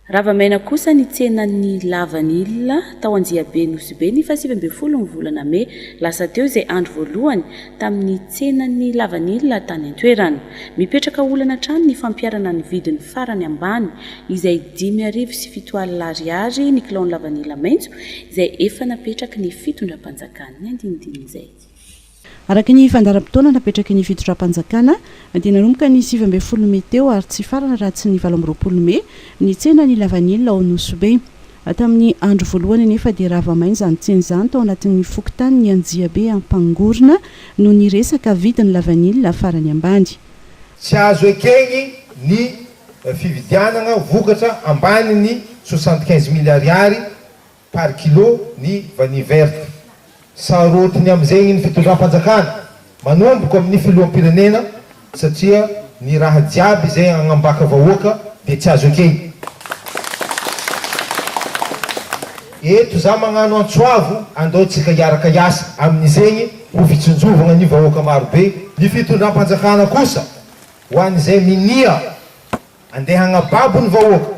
Rava maina kosa ny tsenan'ny lavanila tao Anjiabe Nosy Be ny fahasivy ambin'ny folo ny volana mey lasa teo izay andro voalohany tamin'ny tsenan'ny lavanila tany an-toerana. Mipetraka olana hatrany ny fampiharana ny vidiny farany ambany izay dimy arivo sy fito alina ariary ny kilaon'ny lavanila maitso izay efa napetraky ny fitondram-panjakan'ny andinidin'izay. Araka ny fandaharam-potoana napetraky ny fitondram-panjakana dia nanomboka ny sivy ambin'ny folo mey teo ary tsy hifarana raha tsy ny valo amby roapolo mey ny tsenan'ny lavanila ao Nosy-Be. Tamin'ny andro voalohany anefa dia rava maina izany tsena izany tao anatin'ny fokontanin'i Anjiabe Ampangorona noho ny resaka vidin'ny lavanila farany ambany. Tsy azo ekeny ny fividianana vokatra ambanin'ny soixante quinze mille ariary par kilo ny vanille verte. Sarotiny amin'izegny ny fitondram-panjakana manomboka amin'ny filoham-pirenena satria ny raha jiaby izay agnambaka vahoaka dia tsy azo ekegny. Eto za magnano antso avo andao tsika hiaraka hiasa amin'izegny ho fitsinjovagna ny vahoaka maro be. Ny fitondram-panjakana kosa ho an'izay minia andeha agnababo ny vahoaka.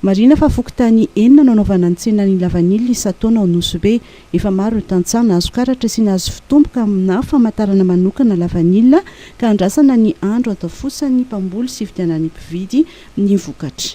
Marihina fa fokontany enina no anaovana ny tsenan'ny lavanila isan-taona ao Nosy Be. Efa maro ireo tantsaha nahazo karatra sy nahazo fitomboka aminà famantarana manokana lavanila ka andrasana ny andro antafosan'ny mpamboly sy hividianan'ny mpividy ny vokatra.